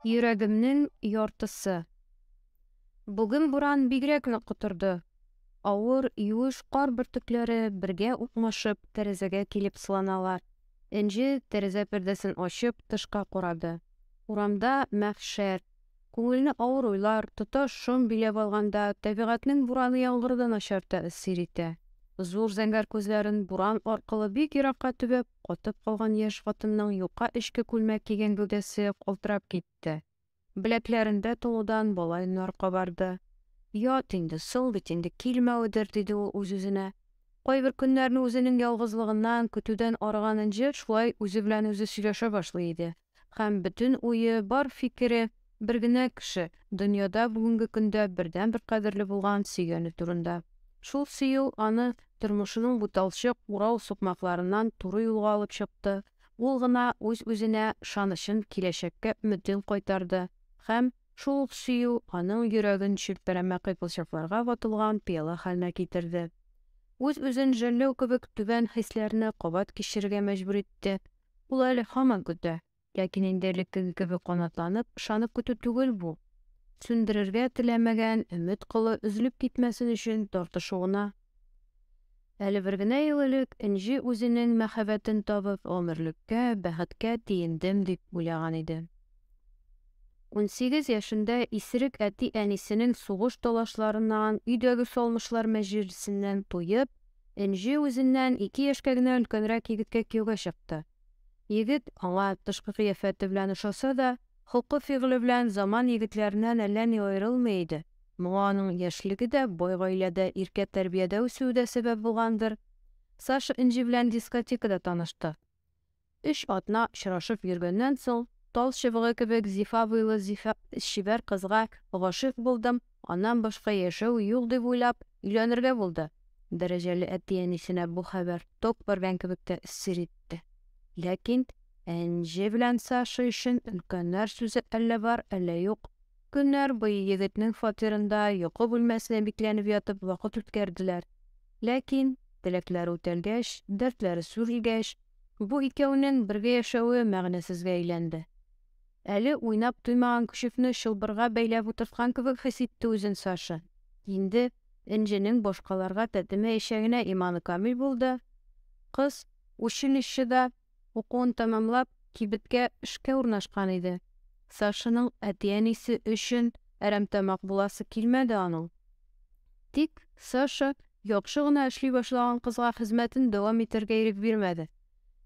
Йөрәгемнең яртысы. Бүген буран бигрәк нык котырды. Авыр, юеш кар бөртекләре бергә укмашып тәрәзәгә килеп сыланалар. Энҗе, тәрәзә пәрдәсен ачып, тышка карады. Урамда мәхшәр. Күңелне авыр уйлар, тоташ шом биләп алганда, табигатьнең бураны яңгыры да начар тәэсир итә. Зур зәңгәр күзләрен буран аркылы бик еракка төбәп, катып калган яшь хатынның юка эчке күлмәк кигән гәүдәсе калтырап китте. Беләкләрендә тулудан балаеннар кабарды. Ят инде, соң бит инде килмәведер, диде ул үз-үзенә. Кайбер көннәрне үзенең ялгызлыгыннан, көтүдән арыган Энҗе шулай үзе белән үзе сөйләшә башлый иде. Һәм бөтен уе, бар фикере, бер генә кеше, дөньяда бүгенге көндә бердәнбер кадерле булган сөйгәне турында. Шул сөю аны тормышының буталчык, урау сукмакларыннан туры юлга алып чыкты, ул гына үз-үзенә ышанычын, киләчәккә өметен кайтарды, һәм шул ук сөю аның йөрәген челпәрәмә кыйпылчыкларга ватылган пыяла хәленә китерде. Үз-үзен жәлләү кебек түбән хисләрне кабат кичерергә мәҗбүр итте, Ул әле һаман көтә. Ләкин инде элеккеге кебек канатланып, ышанып көтү түгел бу. Сүндерергә теләмәгән өмет кылы өзелеп китмәсен өчен тартышу гына. Әле бер генә ел элек Энҗе үзенең мәхәббәтен табып, гомерлеккә, бәхеткә тиендем дип уйлаган иде. Унсигез яшендә исерек әти-әнисенең сугыш талашларыннан, өйдәге салмышлар мәҗлесеннән туеп, Энҗе үзеннән ике яшькә генә өлкәнрәк егеткә кияүгә чыкты. Егет, аңа тышкы кыяфәте белән ошаса да, холкы-фигыле белән заман егетләреннән әллә ни аерылмый иде. Моңа аның яшьлеге дә, бай гаиләдә, иркә тәрбиядә үсүе дә сәбәп булгандыр. Саша Энҗе белән дискотекада танышты. Өч атна очрашып йөргәннән соң, тал чыбыгы кебек зифа буйлы чибәр кызга гашыйк булдым, аннан башка яшәү юк дип уйлап, өйләнергә булды. Дәрәҗәле әти-әнисенә бу хәбәр ток бәргән кебек тә сер итте. Ләкин Әнҗе белән Саша өчен өлкәннәр сүзе әллә бар, әллә юк. Көннәр буе егетнең фатирында, йокы бүлмәсенә бикләнеп ятып, вакыт үткәрделәр. Ләкин, теләкләре үтәлгәч, дәртләре сүрелгәч, бу икәүнең бергә яшәве мәгънәсезгә әйләнде. Әле уйнап туймаган көчекне чылбырга бәйләп утырткан кебек хис итте үзен Саша. Инде Энҗенең башкаларга тәтемәячәгенә иманы камил булды. Кыз училищеда Укуын тәмамлап, кибеткә эшкә урнашкан иде. Сашаның әти-әнисе өчен әрәмтамак буласы килмәде аның. Тик Саша яхшы гына эшли башлаган кызга хезмәтен дәвам итәргә ирек бирмәде.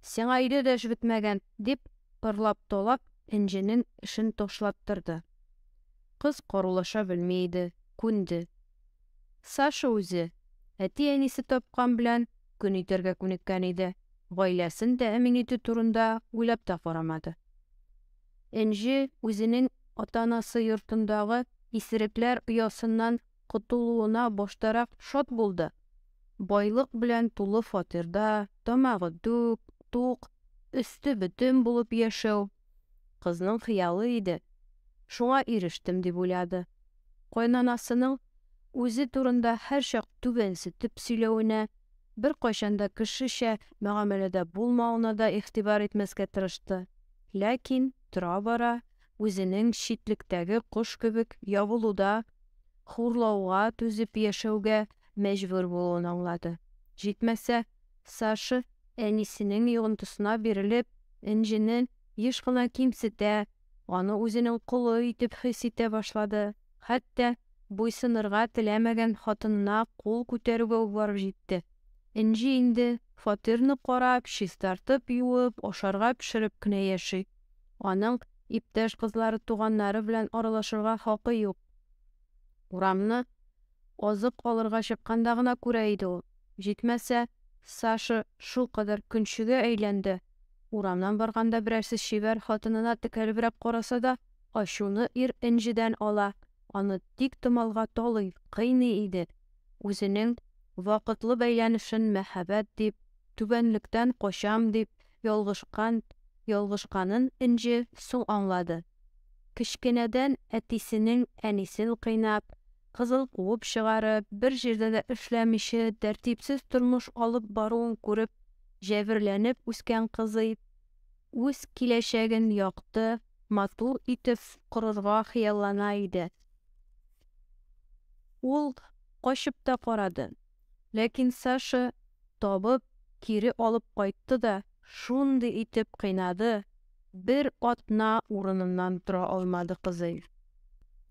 Сиңа өйдә дә эш бетмәгән, дип, ырлап-талап, Энҗенең эшен ташлаттырды. Кыз корулаша белми иде, күнде. Саша үзе, әти-әнисе тапкан белән көн итәргә күнеккән иде, гаиләсен тәэмин итү турында уйлап та карамады. Энҗе үзенең ата-анасы йортындагы исерекләр оясыннан котылуына баштарак шат булды, байлык белән тулы фатирда, тамагы түк, тук, өсте бөтен булып яшәү, Кызның хыялы иде, шуңа ирештем, дип уйлады. Кайнанасының үзе турында һәрчак түбәнсетеп сөйләвенә, беркайчан да кешечә мөгамәләдә булмавына да игътибар итмәскә тырышты. Ләкин тора-бара үзенең читлектәге кош кебек ябылуда, хурлауга түзеп яшәүгә мәҗбүр булуын аңлады. Җитмәсә, Саша, әнисенең йогынтысына бирелеп, Энҗене еш кына кимсетә, аны үзенең колы итеп хис итә башлады, хәтта буйсынырга теләмәгән хатынына кул күтәрүгә үк барып җитте. Энҗе инде фатирны карап, чистартып, юып, ашарга пешереп кенә яши. Аның иптәш кызлары-туганнары белән аралашырга хакы юк. Урамны Азык алырга чыкканда гына күрә иде ул. Җитмәсә, Саша шулкадәр көнчегә әйләнде, урамнан барганда берәрсе чибәр хатынына текәлебрәк караса да, ачуны ир энҗедән ала, аны тиктомалга талый, кыйный иде, үзенең вакытлы бәйләнешен мәһабәт дип, түбәнлектән качам дип ялгышкан ялгышканын энҗе соң аңлады. Кечкенәдән әтисенең әнисен кыйнап, кызыл куып чыгарып, бер җирдә дә эшләмичә, тәртипсез тормыш алып баруын күреп, җәберләнеп үскән кызый үз киләчәген якты, матур итеп корырга хыяллана иде. Ул качып та карады. Ләкин Саша, табып, кире алып кайтты да шундый итеп кыйнады, бер атна урыныннан тора алмады кызый.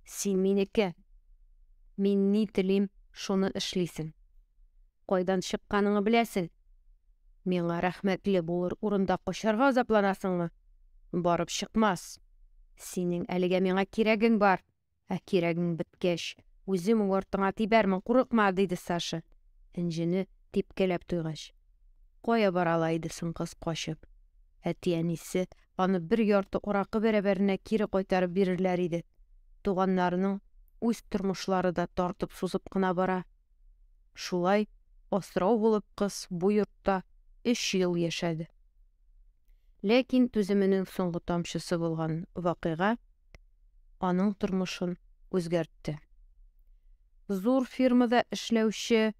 Син минеке. Мин ни телим, шуны эшлисең. Кайдан чыкканыңны беләсең. Миңа рәхмәтле булыр урында качарга азапланасыңмы? Барып чыкмас. Синең әлегә миңа кирәгең бар. Ә кирәгең беткәч, үзем үк артыңа тибәрмен, курыкма, диде Саша, энҗене типкәләп туйгач. Кая бара ала иде соң кыз качып? Әти-әнисе аны бер ярты аракы бәрабәренә кире кайтарып бирерләр иде. Туганнарының үз тормышлары да тартып-сузып кына бара. Шулай асрау булып кыз бу йортта өч ел яшәде. Ләкин түземенең соңгы тамчысы булган вакыйга аның тормышын үзгәртте. Зур фирмада эшләүче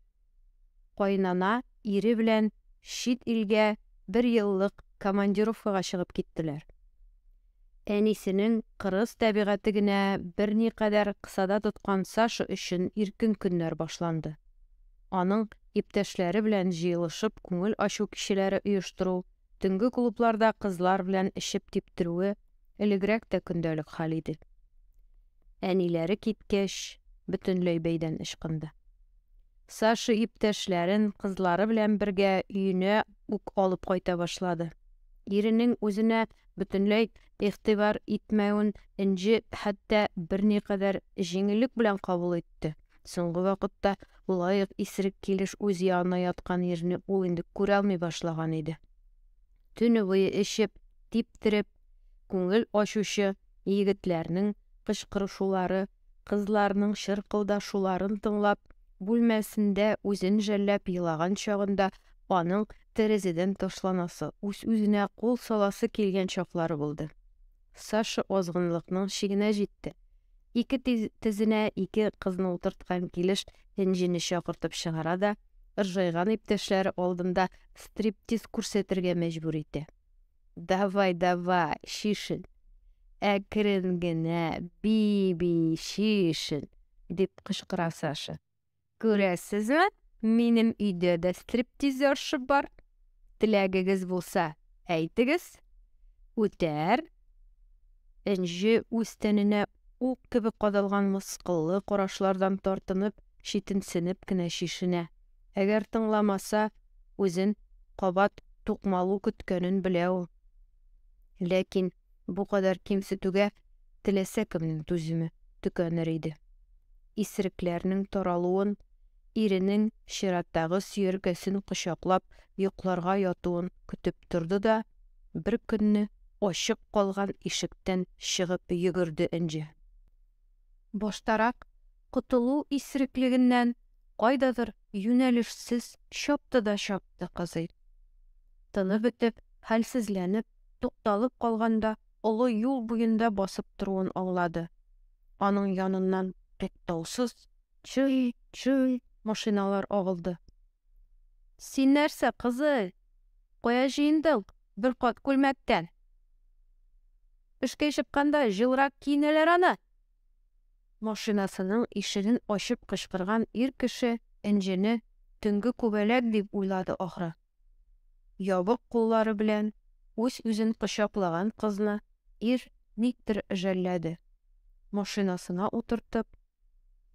кайнана ире белән чит илгә бер еллык командировкага чыгып киттеләр. Әнисенең кырыс тәбигате генә берникадәр кысада тоткан Саша өчен иркен көннәр башланды. Аның иптәшләре белән җыелышып күңел ачу кичәләре оештыру, төнге клубларда кызлар белән эчеп типтерүе Элегрәк тә көндәлек хәл иде. Әниләре киткәч, бөтенләй бәйдән ычкынды. Саша иптәшләрен кызлары белән бергә өенә үк алып кайта башлады. Иренең үзенә бөтенләй игътибар итмәвен Энҗе хәтта берникадәр җиңеллек белән кабул итте. Соңгы вакытта лаек исерек килеш үз янына яткан ирне ул инде күрә алмый башлаган иде. Төне буе эчеп, типтереп, күңел ачучы егетләрнең кычкырышулары, кызларның чыркылдашуларын тыңлап, бүлмәсендә үзен жәлләп елаган чагында аның тәрәзәдән ташланасы, үз-үзенә кул саласы килгән чаклары булды. Саша азгынлыкның чигенә җитте. Ике тезенә ике кызны утырткан килеш Энҗене чакыртып чыгара да, ыржайган иптәшләре алдында стриптиз күрсәтергә мәҗбүр итә. Давай, давай, шишен! Әкрен генә, би-би, шишен! дип кычкыра Саша. Күрәсезме, минем өйдә дә стриптизерша бар. Теләгегез булса, әйтегез. Үтәр. Энҗе үз тәненә ук кебек кадалган мыскыллы карашлардан тартынып, читенсенеп кенә чишенә. Әгәр тыңламаса, үзен кабат тукмалу көткәнен белә ул. Ләкин Бу кадәр кимсетүгә теләсә кемнең түземе төкәнер иде. Исерекләрнең таралуын, иренең чираттагы сөяркәсен кочаклап йокларга ятуын көтеп торды да, беркөнне ачык калган ишектән чыгып йөгерде Энҗе. Баштарак котылу исереклегеннән кайдадыр юнәлешсез чапты да чапты кызый. Тыны бетеп, хәлсезләнеп, тукталып калганда, олы юл буенда басып торуын аңлады. Аның яныннан туктаусыз чый, чый машиналар агылды. Син нәрсә, кызый? Кая җыендың? Бер кат күлмәктән. Эшкә чыкканда җылрак киенәләр аны. Машинасының ишеген ачып кычкырган ир кеше Энҗене төнге күбәләк дип уйлады, ахры. Ябык куллары белән үз-үзен кочаклаган кызны ир никтер жәлләде, машинасына утыртып,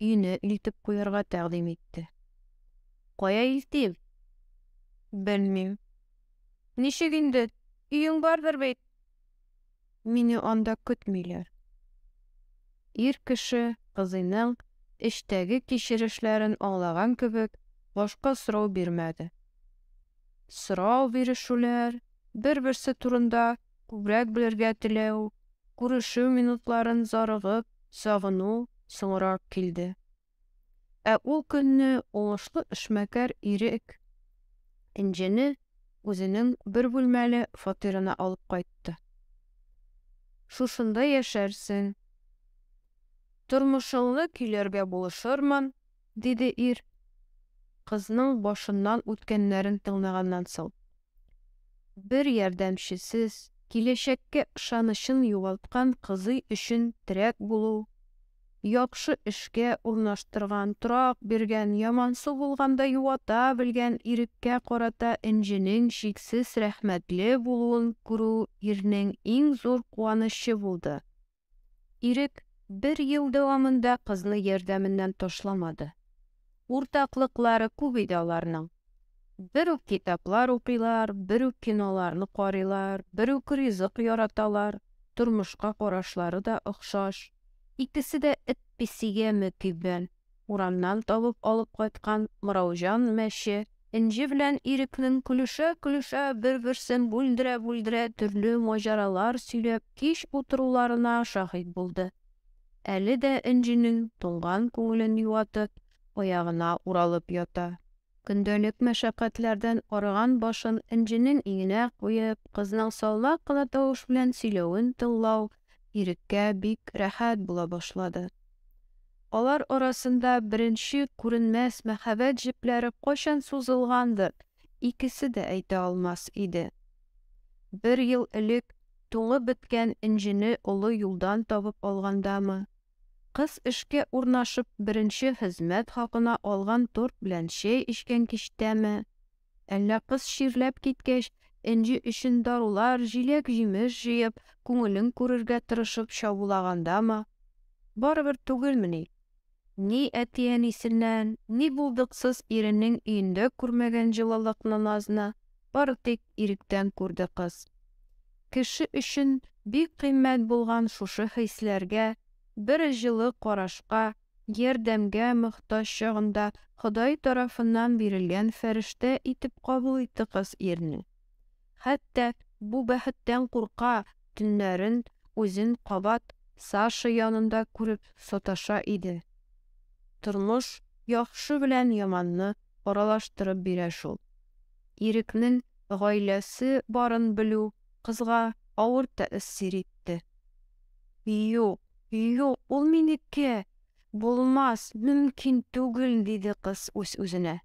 өенә илтеп куярга тәкъдим итте. Кая илтим? Белмим. Ничек инде, өең бардыр бит? Мине анда көтмиләр. Ир кеше, кызыйның эштәге кичерешләрен аңлаган кебек, башка сорау бирмәде. Сорау бирешүләр, бер-берсе турында күбрәк белергә теләү, күрешү минутларын зарыгып сагыну соңрак килде. Ә ул көнне уңышлы эшмәкәр Ирек Энҗене үзенең бер бүлмәле фатирына алып кайтты. Шушында яшәрсең. Тормышыңны көйләргә булышырмын, диде ир, кызның башыннан үткәннәрен тыңлаганнан соң. Бер ярдәмчесез, киләчәккә ышанычын югалткан кызый өчен терәк булу, яхшы эшкә урнаштырган, торак биргән, ямансу булганда юата белгән иреккә карата энҗенең чиксез рәхмәтле булуын күрү ирнең иң зур куанычы булды. Ирек бер ел дәвамында кызны ярдәменнән ташламады. Уртаклыклары күп иде аларның. Бер үк китаплар укыйлар, бер үк киноларны карыйлар, бер үк ризык яраталар, тормышка карашлары да охшаш. Икесе дә эт-песигә мөкиббән. Урамнан табып алып кайткан Мыраужан мәче, Энҗе белән Ирекнең көлешә-көлешә, бер-берсен бүлдерә-бүлдерә төрле маҗаралар сөйләп кич утыруларына шаһит булды. Әле дә Энҗенең туңган күңелен юатып, аягына уралып ята. Көндәлек мәшәкатьләрдән арыган башын Энҗенең иңенә куеп, кызның салмак кына тавыш белән сөйләвен тыңлау Иреккә бик рәхәт була башлады. Алар арасында беренче күренмәс мәхәббәт җепләре кайчан сузылгандыр, икесе дә әйтә алмас иде. Бер ел элек туңып беткән энҗене олы юлдан табып алгандамы, Кыз эшкә урнашып беренче хезмәт хакына алган торт белән чәй эчкән кичтәме, әллә кыз чирләп киткәч, Энҗе өчен дарулар, җиләк-җимеш җыеп, күңелен күрергә тырышып чабулагандамы? Барыбер түгелмени? Ни әти-әнисеннән, ни булдыксыз иренең өендә күрмәгән җылылыкны-назны, бары тик иректән күрде кыз. Кеше өчен бик кыйммәт булган шушы хисләргә, бер җылы карашка, ярдәмгә мохтаҗ чагында Ходай тарафыннан бирелгән фәрештә итеп кабул итте кыз ирне. Хәтта бу бәхеттән курка, төннәрен үзен кабат Саша янында күреп саташа иде. Тормыш яхшы белән яманны аралаштырып бирә шул. Ирекнең гаиләсе барын белү кызга авыр тәэсир итте. Юк, юк, ул минеке! Булмас, мөмкин түгел, диде кыз үз-үзенә.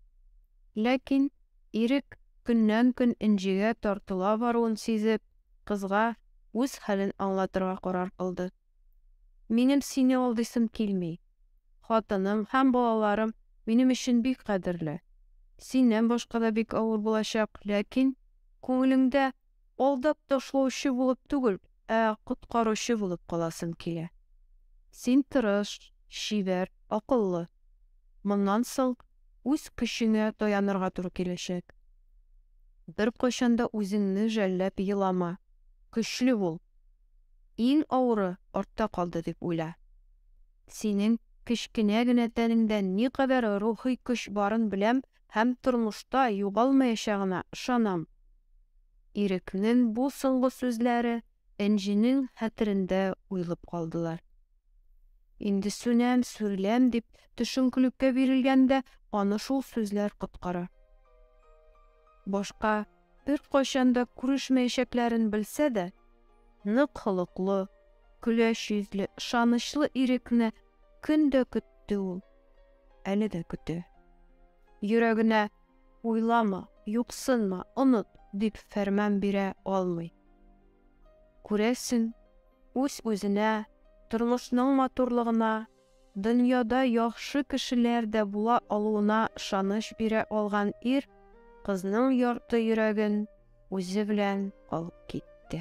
Ләкин Ирек көннән-көн Энҗегә тартыла баруын сизеп, кызга үз хәлен аңлатырга карар кылды. Минем сине алдыйсым килми. Хатыным һәм балаларым минем өчен бик кадерле. Синнән башка да бик авыр булачак, ләкин күңелеңдә алдап ташлаучы булып түгел, ә коткаручы булып каласым килә. Син тырыш, чибәр, акыллы. Моннан соң үз көчеңә таянырга туры киләчәк. Беркайчан да үзеңне жәлләп елама. Көчле бул. Иң авыры артта калды дип уйла. Синең кечкенә генә тәнеңдә никадәр рухи көч барын беләм һәм тормышта югалмаячагына ышанам. Ирекнең бу соңгы сүзләре Энҗенең хәтерендә уелып калдылар. Инде сүнәм, сүреләм дип төшенкелеккә бирелгәндә аны шул сүзләр коткара. Башка Беркайчан да күрешмәячәкләрен белсә дә, нык холыклы, көләч йөзле, ышанычлы Ирекне көн дә көтте ул. Әле дә көтә. Йөрәгенә уйлама, юксынма, оныт, дип фәрман бирә алмый. Күрәсең, үз-үзенә, тормышның матурлыгына Дөньяда яхшы кешеләр дә була алуына ышаныч бирә алган ир кызның ярты йөрәген үзе белән алып китте.